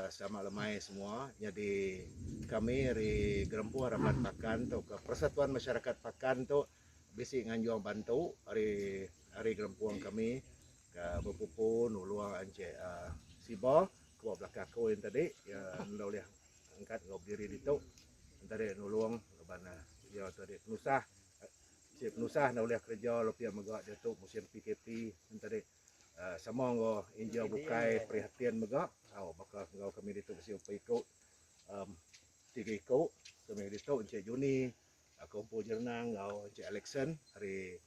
Selamat lemai semua. Nyadi kami ari Gerempuh Raban Pakan tauka Persatuan Masyarakat Pakan tu bisi nganjung bantu ari ari gerempung kami ke bepupu nulung Encik Siba ke ba belakang aku yen tadi iya enda ulih angkat enggau bediri ditu yen tadi nulung laban iya tu adi penusah. Bisi penusah enda ulih kereja lebih mega diatu musim PKP yen tadi. Sama enggau injau bukai perihatin mega tau baka enggau kami ditu bisi empat iku tiga iku kami ke ditu Encik Juni, Kompo Jerenang enggau Encik Alexson ari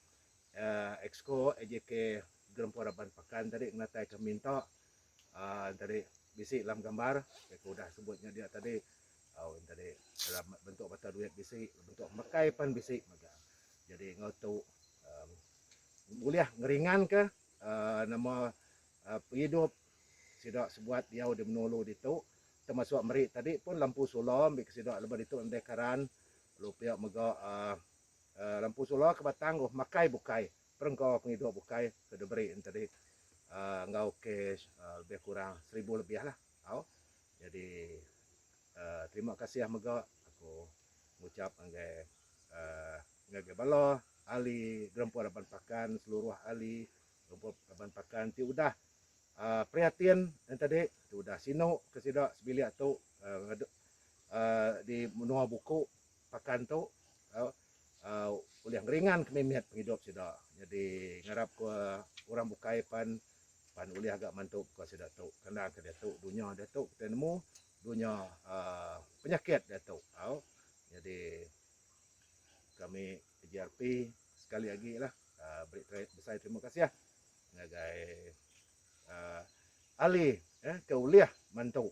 Exco AJK Gerempung Raban Pakan tadi ngenatai ke minta aa tadi bisi alam gambar ke aku udah sebut nya dia tadi tau tadi dalam bentuk mata duit bisi bentuk mekai pan bisi mega. Jadi enggau tu. Ulih ngeringanka nama pengidup sida sebuat diau di menua ulu ditu termasuk meri tadi pun lampu solar ambika sida lebuh ditu nadai karan lalu pia mega lampu solar ke batang oh makai bukai perengka pengidup bukai ke diberi enti enggau kes lebih kurang seribu lebihlah. Tau. Jadi terima kasih mega aku ngucap ngagai ngagai bala ahli gerempung raban pakan seluruh ahli gerempung raban pakan ti udah prihatin entadi ti udah sinu ke sida sebilik tu di menua buku Pakan tu ulih ngeringan kemimit pengidup sida nyadi ngarap ku orang bukai pan pan ulih ga mantu baka sida tu kena ke diatu dunya diatu kitai nemu dunya penyakit diatu au nyadi kami PGRP sekali agi lah beri besai terima kasih ngagai ahli ke ulih mantu.